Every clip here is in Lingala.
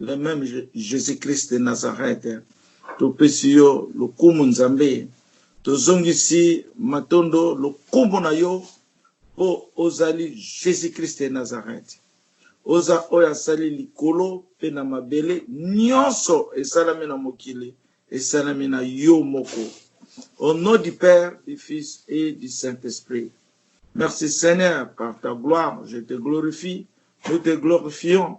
Le meme Jesus Christ de Nazareth topesi yo lokumu Nzambe tozongisi matondo lokumu na yo po ozali Jesus Christ de Nazareth oza oyo asali likolo pe na mabele nionso esalami na mokili esalami na yo moko au nom du père du fils et du saint esprit merci seigneur par ta gloire je te glorifie nous te glorifions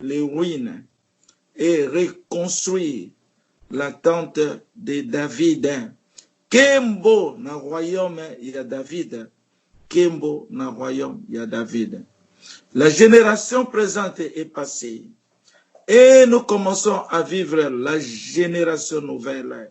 les ruines et reconstruire la tente de David. Kembo na royaume ya David. Kembo na royaume ya David. La generation presente est passee et nous commençons à vivre la generation nouvelle.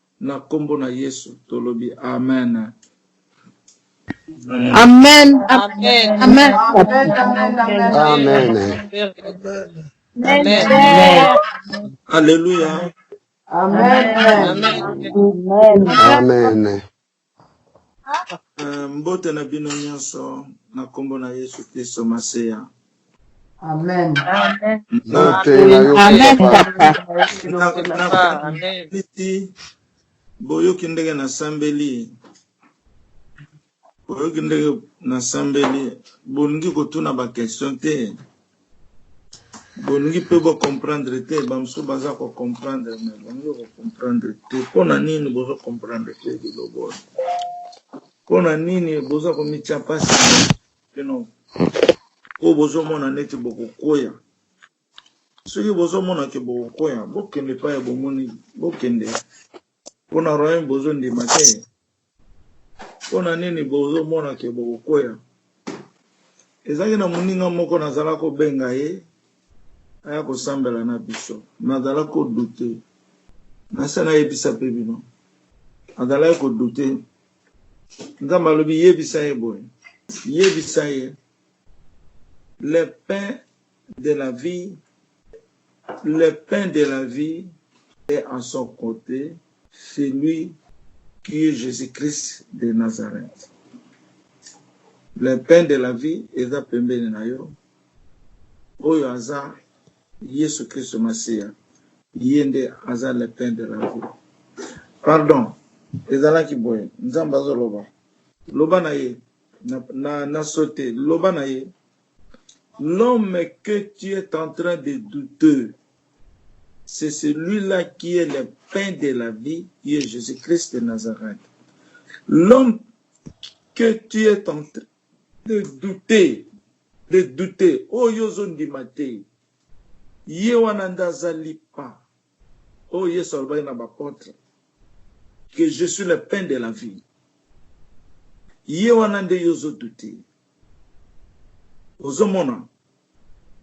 Na kombo na yesu tolobi amen. Amen amen amen amen amen Alleluia. Amen. Amen. Mbote na bino nyonso na nkombo na Yesu Klisto Masiya. Amen. Naliti boyoki ndenge nasambeli, boyoki ndenge nasambeli, bolingi kotuna bakestion te. Bolingi pe bo comprendre te ba mususu baza ko comprendre mais bolingi ko comprendre te pona nini bozo comprendre te liloba oyo pona nini boza ko mitia pasi bino po bozo mona neti boko kweya soki bozo mona ke boko kweya bokende epayi bomoni bokende Pona royaume bozo ndima te pona nini bozo mona ke boko kweya ezaki na muninga moko na zala ko benga ye aya ko sambela na biso na zala ko doute na se na yebisa pe bino azalaki ko doute nzambe alobi yebisa ye boye yebisa ye le pain de la vie le pain de la vie est en son cote c'est lui qui est Jesus Christ de Nazareth le pain de la vie eza pembeni na yo oyo aza Yesu Christ Masiya ye nde aza le pain de la vie pardon ezalaki boye nzambe azoloba loba na ye na, na, na sote loba na ye L'homme que tu es en train de douter c'est celui là qui est le pain de la vie qui est Jesus Christ de Nazareth. L'homme que tu es en train de douter de douter oyo ozo ndima te ye wana nde aza lipa. Oyo Yesu alobaki na ba apotres que je suis le pain de la vie. Ye wana nde yo ozo douter. Ozo mona?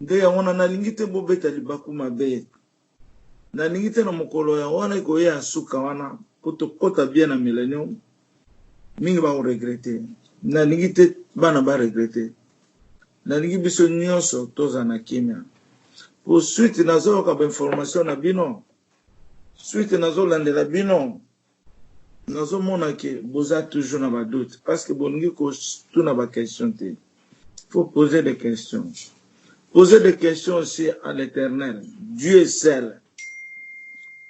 Nde yango wana nalingi te bo beta libaku mabe. Nalingi te na mokolo ya wana ekoya ya suka wana po tokota bien na Millenium. Mingi ba ko regretter. Na lingi te bana ba regretter. Na lingi biso nionso to zala na kimia. Pour suite na zo yoka ba informations na bino, suite na zo landela bino, na zo mona que bo za toujours na ba doutes parce que bo lingi ko tuna ba questions te. Faut poser des questions. Poser des questions aussi à l'Eternel, Dieu seul.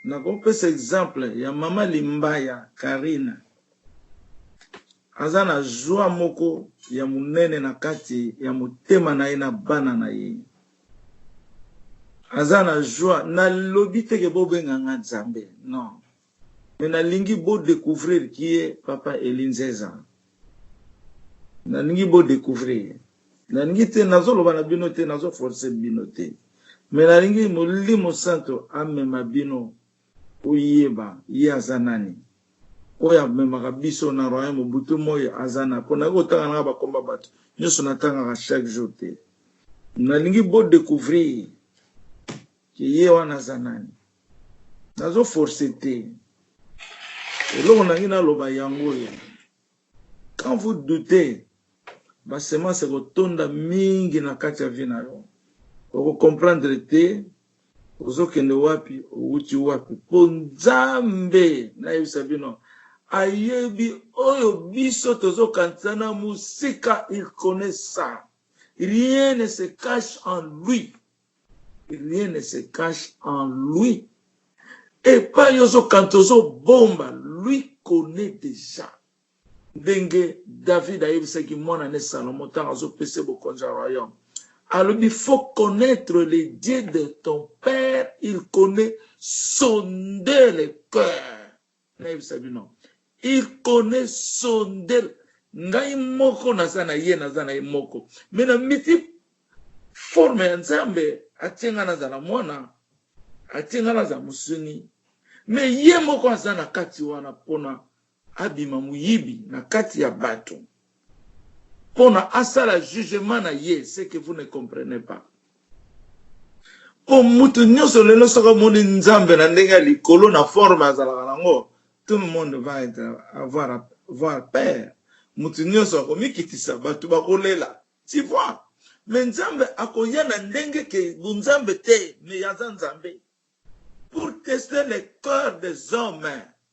Nakopesa exemple ya mama Limbaya Carine. Aza na joie moko ya munene na kati ya motema na ye na bana na ye. Aza na joie, nalobi te ke bobenga nga Nzambe, non. Mais nalingi bo decouvrir qui est papa Elie Nzeza. Nalingi bo decouvrir ye. Nalingi te nazo loba na bino te nazo forcer bino te. Mais nalingi molimo santo amema bino oyeba ye aza nani. Oyo amemaka biso na royaume butu moyi aza nani po naye kotanga nanga ba kombo ya batu nionso natangaka chaque jour te. Nalingi bo decouvrir que ye wana aza nani. nazo force te eloko nangi naloba yango oyo quand vous doutez basemance ekotonda mingi na kati ya vi na yo okokomprendre te ozokende wapi owuti wapi mpo nzambe nayebisa bino ayebi oyo biso tozokanisa na mosika il connaît ça rien ne se cache en lui Rien ne se cache en lui epayi ozo kanta ozo bomba lui connait dejà ndenge David ayebisaki mwana ne Salomon tango azo pesa ye bokonzi ya royaume alobi faut connaitre le Dieu de ton père il connait sonder le cœur Nayebisa bino il connait son del ngai moko naza na ye naza na ye moko mais na miti forme ya nzambe atie ngai nazala mwana atie ngai nazala mosuni mais ye moko aza na kati wana pona abima moyibi na kati ya bato pona asala jugement na ye ce que vous ne comprenez pas po mutu nioso lelo soki amoni nzambe na ndenge ya likolo na forme azalaka na ngo tout le monde va etre avoir voir père mutu nioso akomikitisa batu bakolela tu vois mais nzambe akoya na ndenge ke bunzambe te mais aza nzambe pour tester le cœur des hommes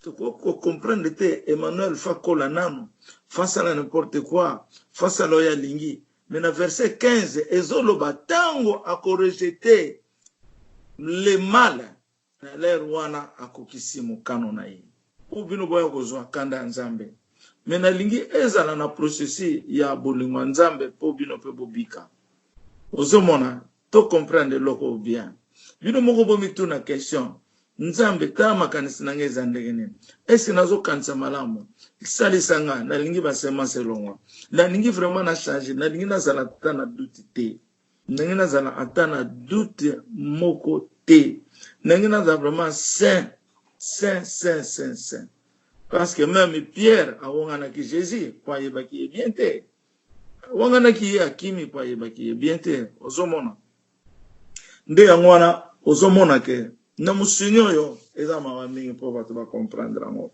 Tokoki ko comprendre te Emmanuel fa kola nanu fa sala n'importe quoi fa sala oyo alingi mais na verset 15 ezo loba tango ako rejete le mal na l'heure wana akokisi mokano na ye po bino boya kozua kanda ya Nzambe mais na lingi ezala na processus ya bolingo ya Nzambe po bino pe bobika ozo mona to comprendre eloko oyo bien bino moko bo mituna question nzambe tala makanisi na nga eza ndenge nini est ce nazo kanisa malamu salisa nga na lingi ba semence elongwa na lingi vraiment na changer na lingi na zala ata na doute te ndenge na zala ata na doute moko te ndenge na zala vraiment saint saint saint saint saint parce que même pierre awonganaki jesus po ayebaki ye bien te awanganaki ye akimi po ayebaki ye bien te ozomona nde yango wana ozomona ke na musuni oyo eza mawa mingi po bato ba comprendre yango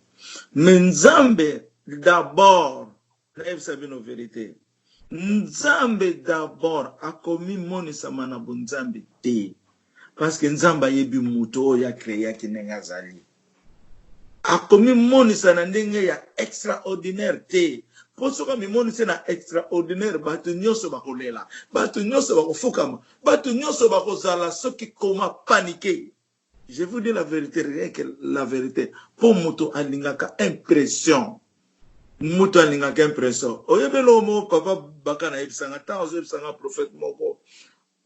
me nzambe d'abord nayebisa bino verite nzambe d'abord akomimonisama na bonzambe te Parce que Nzambe ayebi moto oyo a creaki ndenge azali. Akomimonisa na ndenge ya extraordinaire te. Mpo soki amimonisi na extraordinaire, bato nyonso bakolela, bato nyonso bakofukama, bato nyonso bakozala soki comment, panique. Je vous dis la verite, rien que la verite. Mpo moto alingaka impression. Moto alingaka impression. Oyebi eloko moko papa Baka nayebisa nga, ntango azoyebisa nga prophète moko,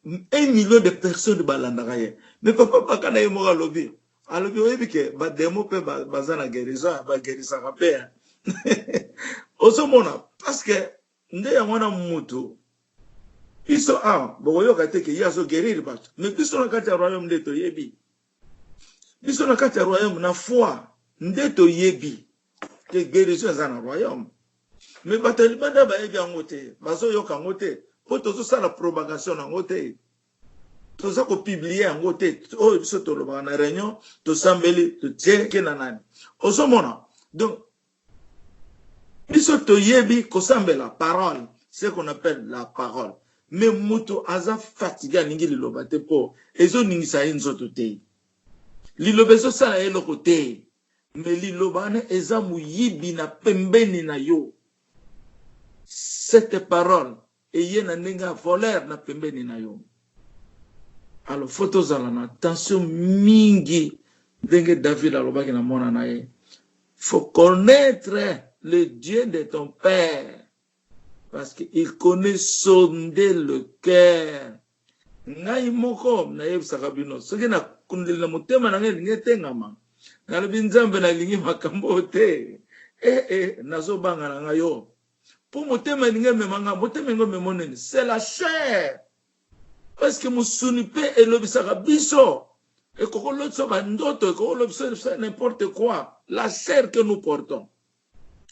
Un million de personnes ba landaka ye mais papa baka naye moko alobi alobi oyebi ke ba demon pe baza na guerison hein ba guerisaka pe hein ozo mona parceque nde yango wana mutu biso awa boko yoka te ke ye azo guerir batu mais biso na kati ya royaume nde toyebi biso na kati ya royaume na foi nde toyebi que guerison eza na royaume mais bato ya libanda bayebi yango te bazoyoka yango te mpo tozosala propagation na yango te toza kopiblie yango te oyo biso tolobaka na réunion tosambeli totieke na nani ozomona donc biso toyebi kosambela parole ce qu'on appelle la parole mais moto aza fatigue alingi liloba te mpo ezoningisa ye nzoto te liloba ezosala ye eloko te mais liloba wana eza moyibi na pembeni na yo cette parole eye na ndenge ya voleur na pembeni na yo alors faut tozala na attention mingi ndenge David alobaki na mwana na ye faut connaître le Dieu de ton père parce qu'il connaît sonder le cœur Ngai moko nayebisaka bino, soki na kundeli na motema na ngai elingi etengama, nalobi, Nzambe, nalingi makambo oyo te. E, e, nazo banga na ngai oyo. Mpo motema elingi emema ngai. Motema elingi omema nini? C'est la chair. Parce que mosuni pe elobisaka biso. Ekoko lotisa ba ndoto, ekoko lobisa n'importe quoi. La chair que nous portons.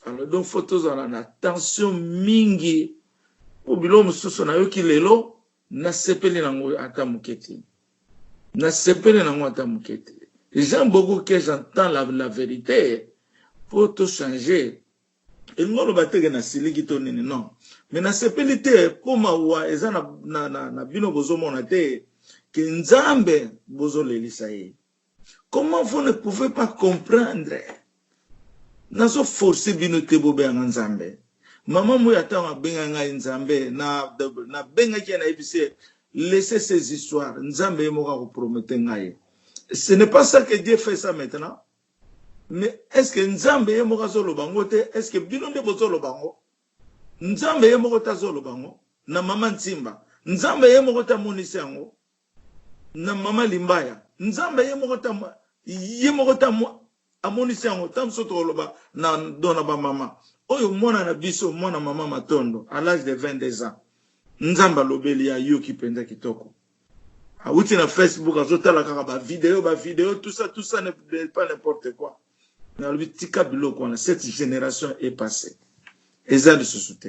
Alors donc faut tozala na tension mingi mpo biloko mosusu nayoki lelo nasepeli nango ata moke te nasepeli nango ata moke te j'aime beaucoup que j'entends la, la vérité mpo tochange elingi oloba teke nasiliki to nini non me nasepeli te mpo mawa eza na, na, na, na bino bozomona te ke nzambe bozolelisa ye Comment vous ne pouvez pas comprendre? Nazo forcer bino te bo benga Nzambe. Maman Muya tango abenga ngai Nzambe, na na bengaki ye na yebisi ye laissez ces histoires. Nzambe ye moko ako promettre ngai. Ce n'est pas ça que Dieu fait ça maintenant? Mais est ce que Nzambe ye moko azo loba ngo te? Est ce que bino nde bozo loba ngo? Nzambe ye moko te azo loba ngo na maman Nsimba. Nzambe ye moko te amonisi yango. na maman limbaya nzambe ye moko ta ye moko ta amonisi yango ta mosusu tokoloba na do na ba maman oyo mwana na biso mwana maman matondo à l'age de 22 ans nzambe alobeli ya yoki penza kitoko awuti na facebook azotala kaka ba video ba video tout ça tout ça ne pas n'importe quoi nalobi tika biloko wana cette génération est passée eza lisusu te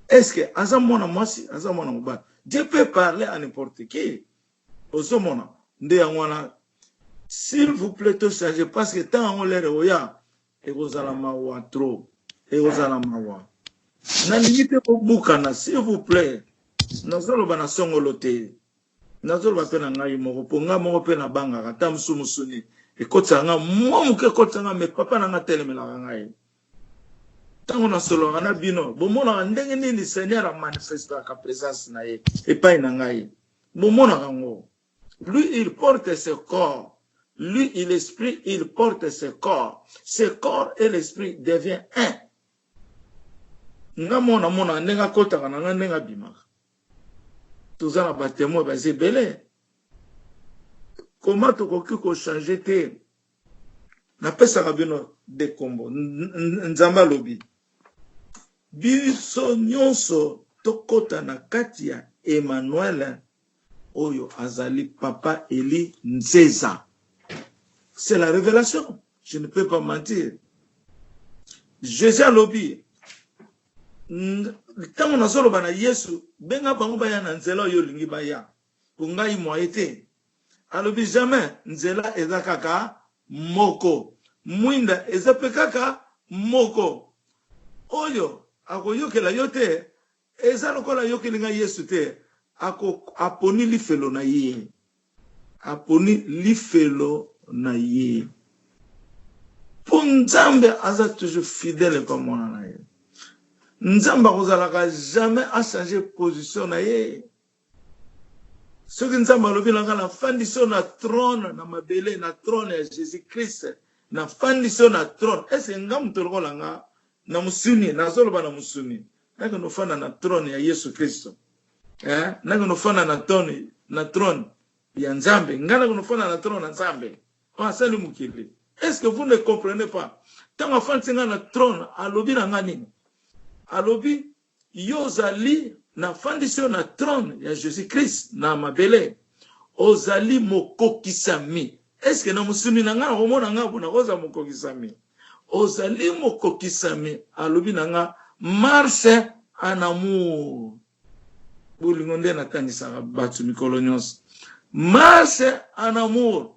Est-ce que aza mwana mwasi, aza mwana mobali? Dieu peut parler à n'importe qui. Ozo mona? Nde yango wana s'il vous plait to changer parce que tango yango l'heure ekoya ekozala mawa trop. Ekozala mawa. Nalingi te bobukana s'il vous plait. Nazoloba na songolo te. Nazoloba mpe na ngai moko mpo ngai moko mpe nabangaka ata mosusu mosuni ekotisaka ngai mwa moke ekotisaka ngai me papa na ngai atelemelaka ngai. Tango nasololaka na bino, bomonaka ndenge nini Seigneur a manifestaka presence na ye epai na ngai? Bomonaka yango? Lui, il porte ce corps, lui, il esprit, il porte ce corps, ce corps et l'esprit devient un. Nga moko namonaka ndenge akotaka na nga, ndenge abimaka. Toza na ba temoins baza ebele. Comment tokoki ko changer te? Napesaka bino de kombo. Nzambe alobi biso nyonso tokota na kati ya Emmanuel oyo azali papa Elie Nzeza. C'est la révélation. Je ne peux pas mentir. Jésus alobi ntango nazoloba na Yesu benga bango baya na nzela oyo olingi baya. po ngai moyen te alobi jamais nzela eza kaka moko muinda eza pe kaka moko oyo akoyokela yo te eza lokola ayokeli ngai yesu te ako aponi lifelo na ye aponi lifelo na ye po nzambe aza toujours fidèle epa mwana na ye nzambe akozalaka jamais a changer position na ye Soki Nzambe alobi na nga na fandi so na trone na mabele na trone ya Jesus Christ na fandi so na trone est ce nga moto lokola nga na musuni na zoloba na musuni na ke no fana na trone ya Yesu Christ eh na ke no fana na trone na trone ya Nzambe nga na ke no fana na trone na Nzambe o asali mukili est ce que vous ne comprenez pas tanga fandi nga na trone alobi na nga nini alobi Yo ozali, nafandisi yo na trone ya Jesus Christ na mabele, ozali mokokisami. Est ce que na mosuni na ngai nakomona ngai pona kozala mokokisami? Ozali mokokisami, alobi na ngai, marche en amour. Bolingo nde natangisaka batu mikolo nionso. Marche en amour.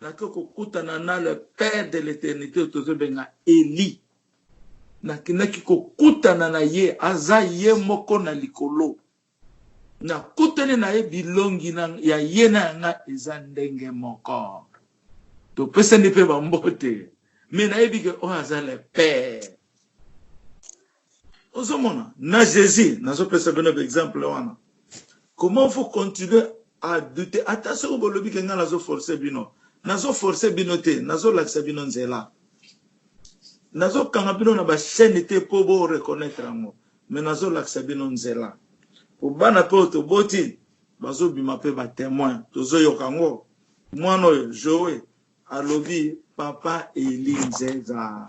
Nake kokutana na le père de l'eternite oyo tozo benga Elie. Nakendaki kokutana na ye, aza ye moko na likolo. Nakutani na ye bilongi na ya ye na ya nga eza ndenge moko. Topesani pe ba mbote mais nayebi ke oyo aza le père. Ozo mona na Jesus nazo pesa bino ba exemple wana comment vous continuer à douter ata soki bolobi ke nga nazo forcer bino nazo forcer bino te nazo lakisa bino nzela nazo kanga bino na ba chaîne te po bo reconnaitre yango mais nazo lakisa bino nzela po bana pe toboti bazo bima pe ba temoin tozo yoka yango mwana oyo Joe alobi papa Elie Nzeza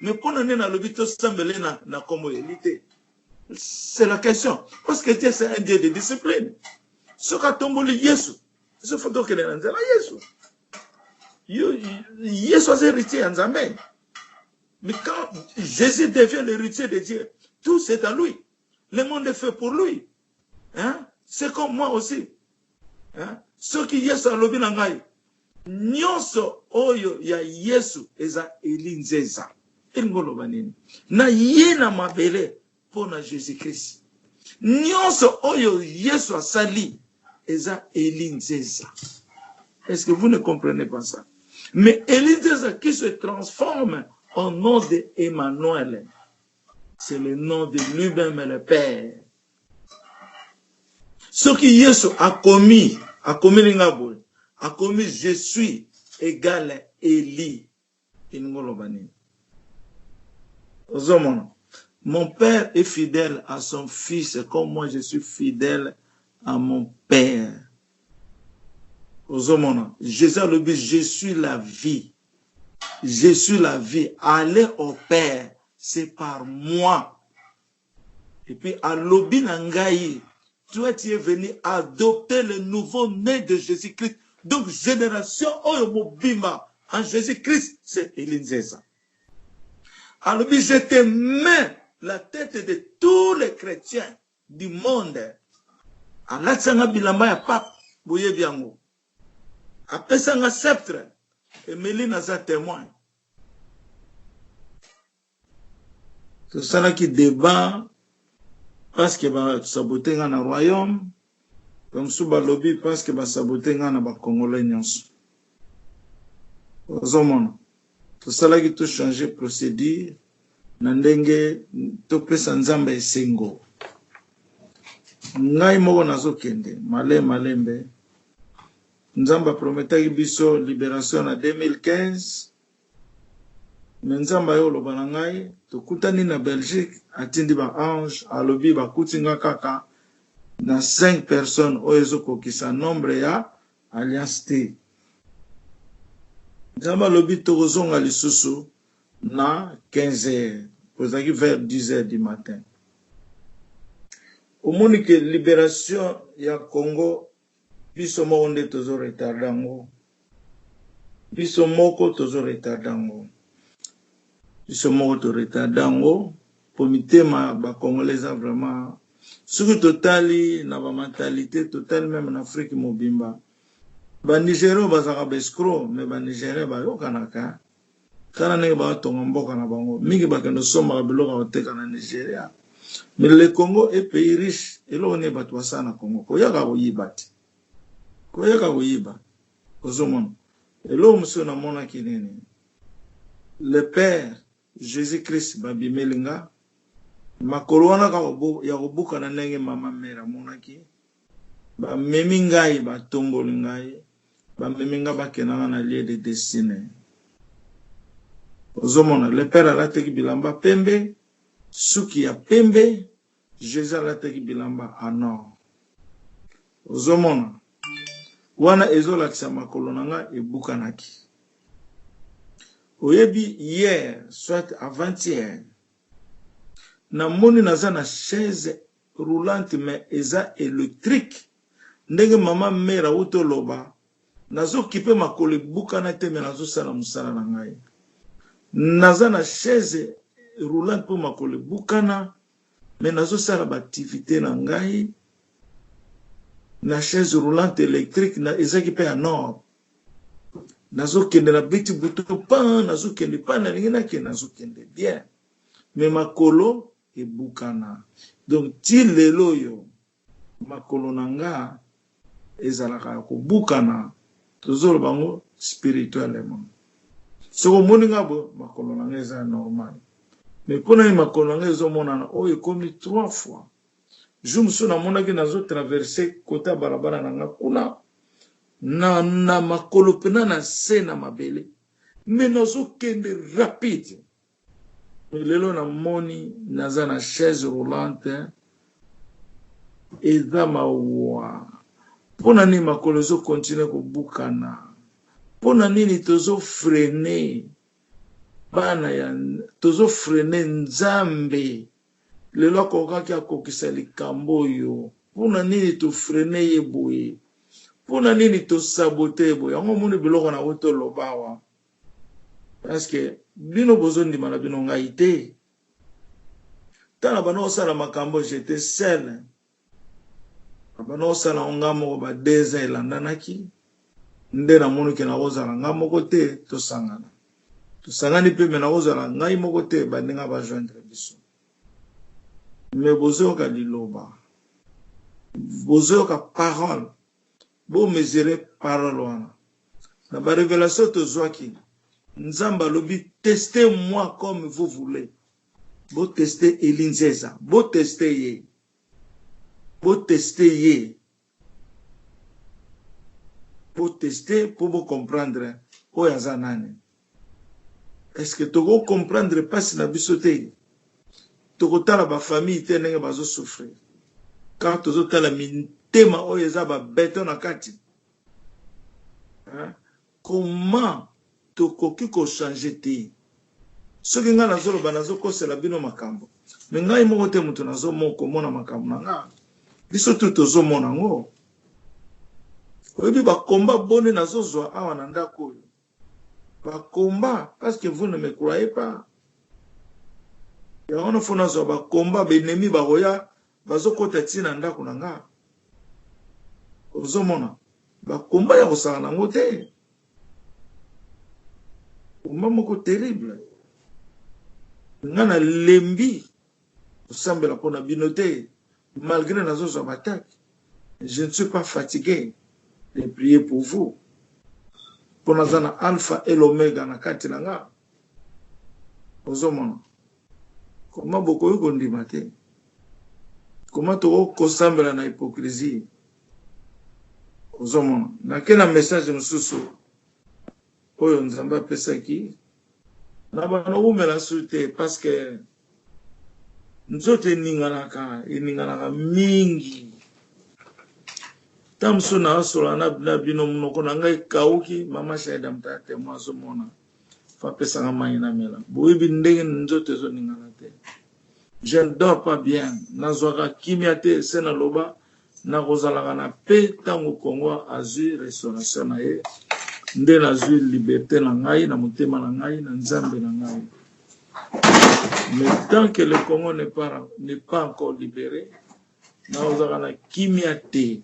Mais pona nini alobi to sambela ye na, na kombo ya Eli te? C'est la question. Parce que Dieu c'est un Dieu de discipline. Soki atomboli Yesu, ezo faut tokende na nzela Yesu. Yesu aza héritier ya Nzambe. Mais quand Jésus devient l'héritier de Dieu, tout c'est à lui. Le monde est fait pour lui. hein c'est comme moi aussi hein soki yesu alobi na ngai nyonso oyo ya yesu eza eli nzeza elingi oloba nini na ye na mabele mpo na jesus christ nyonso oyo yesu asali eza eli nzeza est ce que vous ne comprenez pas ça mais eli nzeza qui se transforme au nom de emmanuel C'est le nom de lui-même le Père. soki yesu akomi akomeli nga boye akomi je suis egal eli elingi oloba nini ozomona mon père est fidèle à son fils comme moi je suis fidèle à mon père ozomona jésus alobi je suis la vie Je suis la vie aller au père c'est par moi et puis alobi na ngai toi tu es venu adopter le nouveau né de Jesus Christ donc generation oyo mobimba en Jesus Christ c'est Elie Nzeza alobi je te mets la tête de tous les chrétiens du monde alatisa nga bilamba ya pape boyebi yango Apesa nga sceptre Emelie naza temoin Tosalaki debat parce que ba sabote nga na royaume ba mosusu balobi parce que ba sabote nga na ba congolais nionso ozomona Tosalaki to changer procedure na ndenge topesa Nzambe esengo. Ngai moko nazokende male malembe. Nzambe aprometaki biso liberation na 2015. Me nzambe aye oloba na ngai tokutani na belgique atindi ba ange alobi bakuti nga kaka na 5 personnes oyo ezokokisa nombre ya Alliance te nzambe alobi tokozonga lisusu na 15 heures po ezalaki vers 10 heures du matin omoni ke liberation ya congo biso moko nde tozo retarde yango biso moko tozo retarde yango biso moko to retarde yango. Po mitema ba congolais eza vraiment soki totali na ba mentalite totali meme na Afrique mobimba ba nigerian oyo bazalaka ba escro mais ba nigerian bayokanaka hein tala ndenge bazo tonga mboka na bango mingi bakende kosombaka biloko ya koteka na nigeria mais le congo est pays riche eloko nini batu basala na congo koyaka koyiba te koyaka koyiba ozomona eloko mosusu namonaki nini le père Jesus Christ ba bimeli nga makolo wana kaka ya kobukana ndenge mama mère amonaki ba memi ngai ba tomboli ngai ba memi nga ba kenda nga na lieu de destine ozo mona le père alateki bilamba pembe suki ya pembe Jesus alataki bilamba en or ozo mona wana ezo lakisa makolo na nga ebukanaki oyebi hier soit avant hier na moni naza na chaise roulante mais eza electrique ndenge maman mère awuti oloba Nazo kipe makolo ebukana te mais nazo sala musala na ngai. Naza na chaise roulante po makolo ebukana mais nazo sala ba activites na ngai na chaise roulante electrique na ezaki pe ya nord. Nazo kende na beti bouton pan nazo kende pan nalingi na kende nazo kende bien mais makolo ebukana donc ti lelo oyo. Makolo na nga ezalaka ya kobukana tozo loba ngo spirituellement soki omoni nga boye makolo na nga eza normal mais pona nini makolo na nga ezo monana oyo ekomi trois fois jour mosusu na monaki nazo traverse kote ya balabala na nga kuna na na makolo pena na se na mabele mais nazo kende rapide lelo na moni naza na chaise roulante eza mawa mpo na nini makolo ezokontinue kobukana mpo na nini tozofrene bana ya tozofrene nzambe lelo akokaki akokisa likambo oyo mpo na nini tofrene ye boye mpo na nini tosabote ye boye yango omoni biloko na yango tolobawa Est ce que bino bozo ndima na bino ngai te tala bana osala makambo j'etais seule bana osala ngo nga moko ba deux ans elandanaki nde na moni ke nakozala nga moko te tosangana tosangani pe me nakozala ngai moko te baninga ba joindre biso me bozoyoka liloba bozoyoka parole bo mesurer parole wana na ba revelation tozuaki nzambe alobi tester moi comme vous voulez bo tester Elie Nzeza bo tester ye bo tester ye bo tester po bo comprendre oyo aza nani est ce que toko comprendre pasi na biso te toko tala ba famille te ndenge bazo souffrir car tozo tala mitema oyo eza ba beton na kati hein? comment tokoki ko changer te soki ngai nazoloba nazokosela bino makambo me ngai moko te moto nazomona komona makambo na ngai biso tu tozomona yango oyebi bakomba boni nazozwa awa na ndako oyo Ba combat parce que vous ne me croyez pas. Yango na fo nazwa ba combat ba ennemis bakoya bazokota ti na ndako na nga. Ozomona ba combat ya kosala nango te. Combat moko terrible. Nga na lembi Kosambela pona bino te malgre nazo zwa b'attaque je ne suis pas fatigue de prier pour vous po naza na alpha et l'omega na kati na nga ozo mona koma bokoki kondima te koma toko kosambela na hypocrisie ozo mona nake na message mosusu oyo nzambe apesaki Naba nawumela su te parce que nzoto eninganaka eninganaka mingi tango mosusu naosolola na bino monoko na ngai ekauki mama shaida motaya temo azomona fo apesaka mai namela boyebi ndenge nzoto ezoningana te je ne dors pas bien nazwaka kimia te se naloba Nakozalaka na paix tango Kongo azui restauration na ye nde nazui liberte na ngai na motema na ngai na Nzambe na ngai mais tant que le Congo n'est pas n'est pas encore libere nakozalaka na kimia te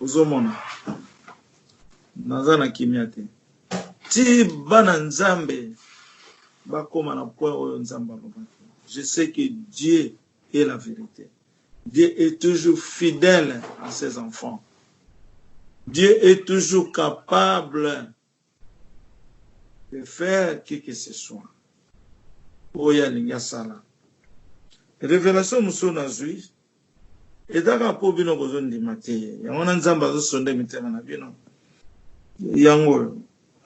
ozomona naza na kimia te ti bana Nzambe bakoma na point oyo Nzambe alobaki je sais que Dieu et la verite. Dieu est toujours fidèle à ses enfants. Dieu est toujours capable de faire qui que ce soit. Oyo alingi asala. Révélation mosusu nazwi ezaka mpo bino bozondima te yango wana nzambe azosonde mitema na bino yango oyo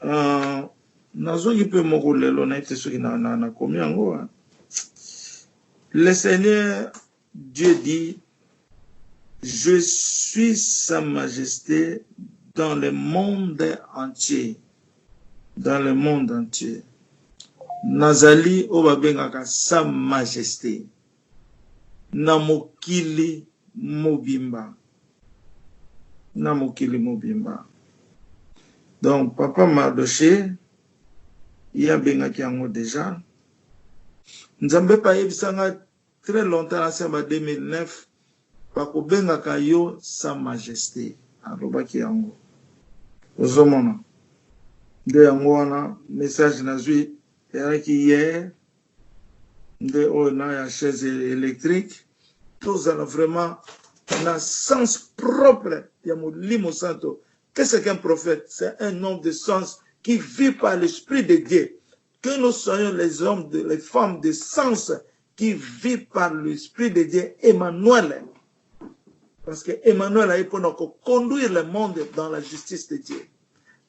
ah, nazwaki mpe moko lelo nayebi te soki nakomi yango ah. Le seigneur Dieu dit je suis sa majeste dans le monde entier dans le monde entier nazali oyo babengaka sa majeste na mokili mobimba na mokili mobimba donc papa Mardochee ye abengaki yango dejà Nzambe pe ayebisa nga tres longtemps na se ya ba 2009 bako bengaka yo sa majeste alobaki yango ozo mona nde yango wana message nazui eyaki hier nde oyo na ya chaise electrique tozala vraiment na sens propre ya molimo santo qu'est ce qu'un prophète c'est un homme de sens qui vit par l'esprit de Dieu Que nous soyons les hommes de les femmes de sens qui vit par l'esprit de Dieu Emmanuel parce que Emmanuel aye pona ko conduire le monde dans la justice de Dieu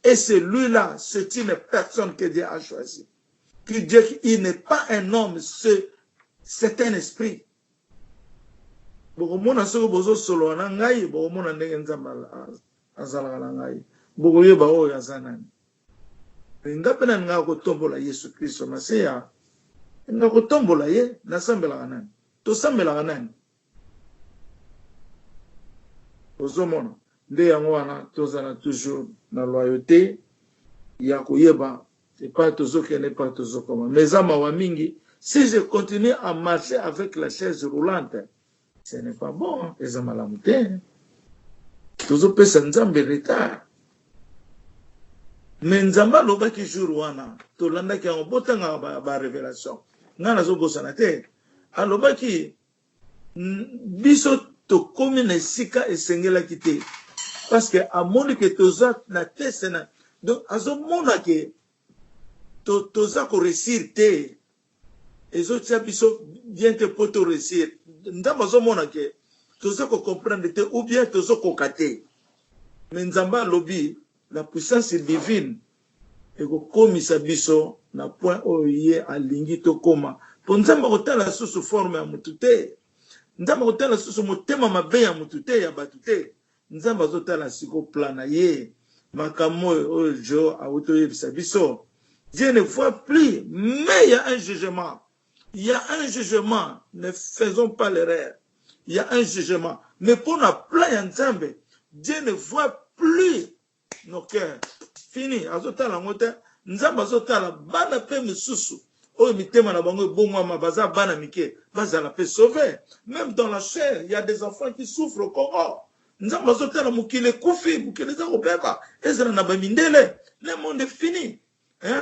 et celui là c'est une personne que Dieu a choisi que Dieu il n'est pas un homme c'est c'est un esprit bokomona soki bozosolola na ngai bokomona ndenge nzambe azalaka na ngai bokoyeba oyo aza nani Nga pe nalingaka kotombola Yesu Klisto Masiya Nalingaka kotombola ye Nasambelaka nani? Tosambelaka nani? Ozomona? Nde yango wana tozala toujours na loyaute ya koyeba epai tozokende, epai tozokoma. Mais eza mawa mingi si je continue à marcher avec la chaise roulante, Ce n'est pas bon, eza malamu te. Tozopesa Nzambe retard. Mais Nzambe alobaki jour wana, tolandaki yango botanga ba, ba révélation. Nga nazobosana te. Alobaki biso tokomi na esika esengelaki te parce que amoni que toza na test na donc azomona que to, toza ko réussir te ezo tia biso bien te po to reussir nzambe azo mona que tozo ko comprendre te ou bien tozo koka te mais nzambe alobi la puissance divine eko komisa biso na point oyo ye alingi to koma po nzambe ako tala lisusu forme ya mutu te nzambe ako tala lisusu motema mabe ya mutu te ya batu te Nzambe azo tala sikoyo plan na ye. Makambo oyo Djo awuti oyebisa biso Dieu ne voit plus mais ya un jugement ya un jugement ne faisons pas l'erreur ya un jugement mais pona plan ya Nzambe Dieu ne voit plus noke fini azotala yango te nzambe azotala bana mpe misusu oyo mitema na bango ebongwama baza bana mike bazala mpe sauve meme dans la chair ya des enfants qui souffre au congo nzambe azotala mokili ekufi mokili eza kobeba ezala na bamindele le monde fini hein?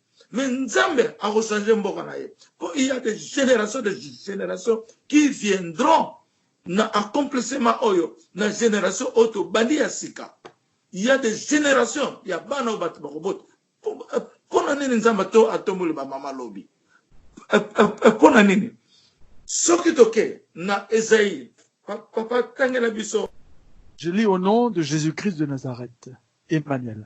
mais nzambe ako changer mboka na ye po il y a des generations des generations qui viendront na accomplissement oyo na generation oyo tobandi ya sika il y a des generations ya bana oyo bato bakobota mpo na nini nzambe to atomboli bamama lobi mpo na nini soki toke na ezaïe papa tangela biso Je lis au nom de Jésus-Christ de Nazareth, Emmanuel.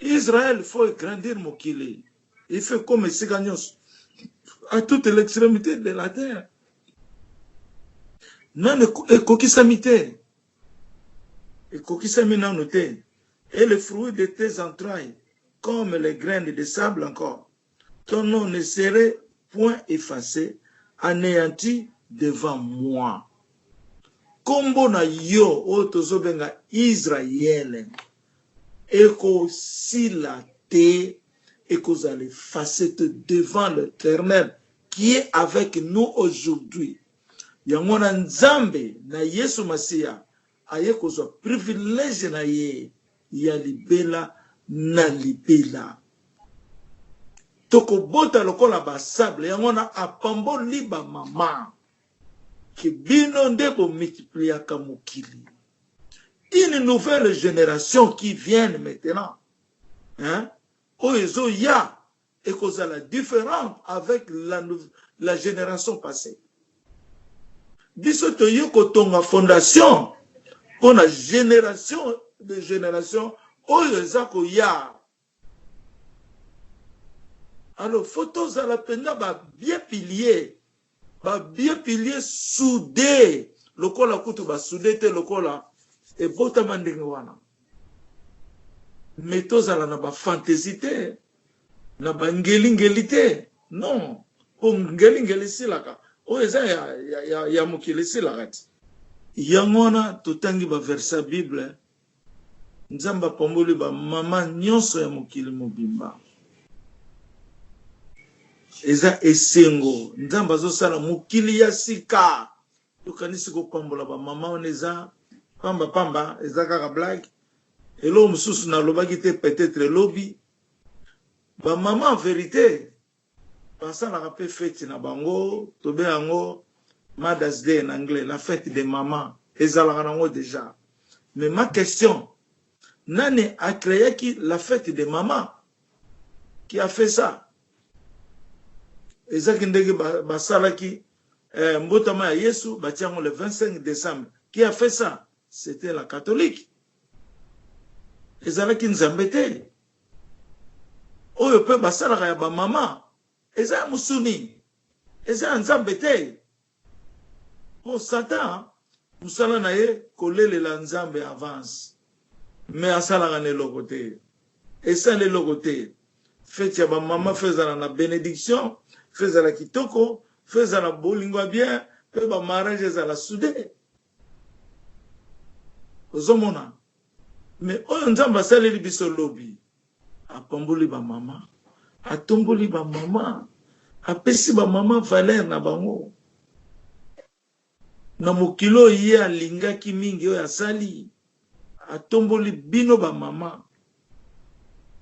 Israël faut e grandir mokili il faut comme esika nyonso à toute l'extrémité de la terre nanu ekokisami te ekokisami nanu te et le fruit de tes entrailles comme les graines de sable encore Ton nom ne serait point efface, aneanti devant moi. Kombo na yo oyo tozo benga Israël eko sila te, eko zala efface te devant l'Eternel qui est avec nous aujourd'hui. Yango wana Nzambe na Yesu Masiya Aye kozwa privilège na ye ya libela na libela. Toko bota lokola ba sable yango wana apambo li ba maman que bino nde bo multipliaka mokili une nouvelle generation qui vienne maintenant hein oyo ezo ya ekozala differente avec la la generation passee biso toye kotonga fondation pona generation de generation oyo eza koya alors faut tozala mpenza ba bien pilier Ba vieux piliers soude lokola kutu ba soude te lokola ebotama ndenge wana mais tozala na ba fantaisie te na ba ngeli ngeli te non po ngeli ngeli esilaka oyo eza ya, ya, ya, ya mokili esilaka ti yango wana totangi ba verse ya bible Nzambe apamboli ba maman nionso ya mokili mobimba. Eza esengo Nzambe azosala mokili ya sika yokanisi kopambola ba maman wana eza pamba pamba eza kaka blague eloko mosusu nalobaki te peut-etre lobi ba maman en verite Basalaka pe feti na bango tobe yango Mother's day na anglais la fete des mamans ezalaka nango dejà mais ma question nani a creaki la fete des mamans qui a fait ça eza ki ndenge basalaki mbotama ya yesu batie yango le 25 decembre qui a fait ça c'etait la catholique ezalaki nzambe te Oyo pe basalaka ya ba mama eza ya musuni eza ya nzambe te po satan musala na ye kolelela nzambe avance mais asalaka na eloko te esali eloko te feti ya ba mama faut ezala na benediction faut ezala kitoko faut ezala bolingo ya bien pe ba marriage ezala soude ozomona. Mais oyo nzambe asaleli biso lobi apamboli ba maman atomboli ba maman apesi ba maman valeur na bango na mokili oyo ye alingaki mingi oyo asali atomboli bino ba maman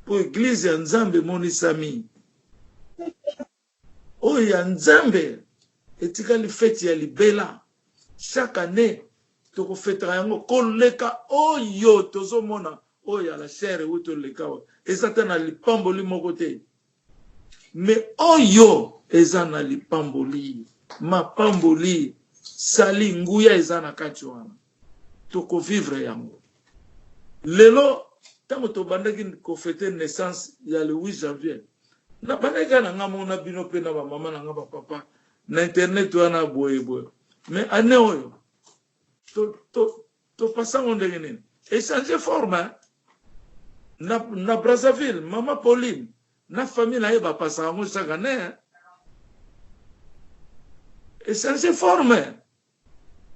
po eglise ya nzambe emonisami Oyo ya nzambe etikali feti ya libela chaque annee toko fetaka yango ko leka oyo tozo mona oyo ya la chaire ewuto leka awa eza ata na lipamboli moko te mais oyo eza na lipamboli mapamboli sali nguya eza na kati wana. toko vivre yango lelo tango tobandaki ko fete naissance ya le 8 janvier na bandaki kaka na nga moko na bino pe na ba mama na nga ba papa na internet wana boye boye mais année oyo to to to pasango ndenge nini echange forme hein? na, na Brazzaville mama Pauline na famille na ye bapasaka yango chaque année echange forme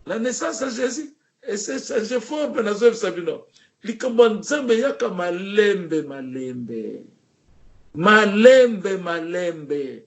La naissance ya Jesus e s'est change fort mais nazoyebisa bino likambo ya Nzambe eyaka malembe malembe malembe malembe